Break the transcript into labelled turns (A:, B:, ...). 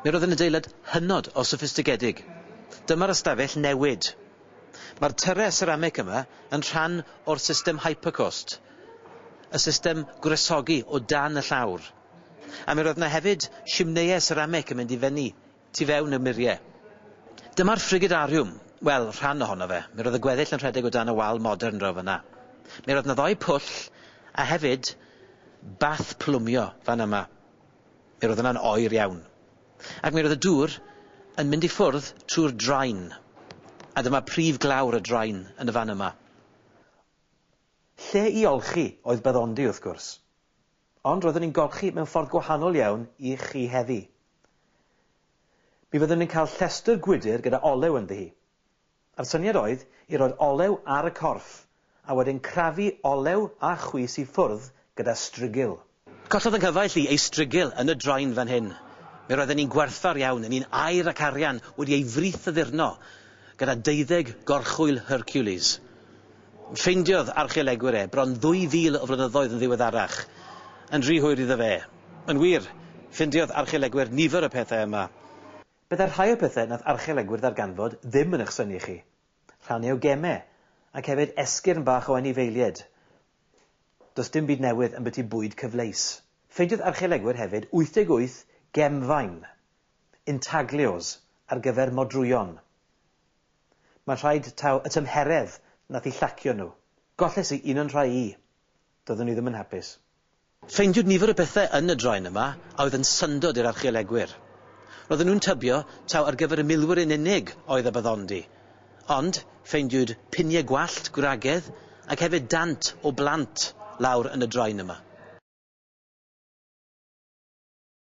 A: Mi roedd yn adeilad hynod o soffistigedig. Dyma'r ystafell newid. Mae'r tyrau seramig yma yn rhan o'r system Hypercoast, y system gwresogi o dan y llawr. A mi roedd yna hefyd simneiau seramic yn mynd i fyny tu fewn i'r murie. Dyma'r frigidariwm, wel, rhan ohono fe, mi roedd y gweddill yn rhedeg o dan y wal modern draw fan'na. Mi roedd 'na ddou pwll, a hefyd, bath plwmio, fan yma. Mi roedd yna'n oer iawn. Ac mi roedd y dŵr yn mynd i ffwrdd trwy'r drain, a dyma prif glawr y drain yn y fan yma. Lle i olchi oedd Byddondi, wrth gwrs. Ond roeddwn i'n golchi mewn ffordd gwahanol iawn i chi heddi. Mi fyddwn yn cael llestr gwydr gyda olew ynddi hi. A'r syniad oedd i roi'r olew ar y corff, a wedyn crafu olew a chwys i ffwrdd gyda strigil. Collodd yng nghyfaill i ei strigil yn y draen fan hyn. Mi roedden ni'n gwerthfawr iawn yn un air ac arian wedi ei frith addurno gyda deuddeg gorchwyl Hercules. Ffeindiodd archeolegwyr e, bron 2,000 o flynyddoedd yn ddiweddarach, yn rhy hwyr iddo fe. Yn wir, ffeindiodd archeolegwyr nifer o pethau yma. Byddai rhai o'r pethau nath archeolegwyr ddarganfod ddim yn eich synnu chi. Rhannau o gemau, ac hefyd esgyrn bach o anifeiliaid. Does dim byd newydd ambyti bwyd cyfleus. Ffeindiodd archeolegwyr hefyd 88 gemfaen, intaglios, ar gyfer modrwyon. Mae'n rhaid taw y tymheredd nath i llacio nhw. Golles i un o'n rhai i. Doeddwn i ddim yn hapus. Ffeindiwyd nifer o bethau yn y draen yma a oedd yn syndod i'r archeolegwyr. Roedden nhw'n tybio taw ar gyfer y milwyr yn unig oedd y baddondi. Ond, ffeindiwyd piniau gwallt gwragedd ac hefyd dant o blant lawr yn y draen yma.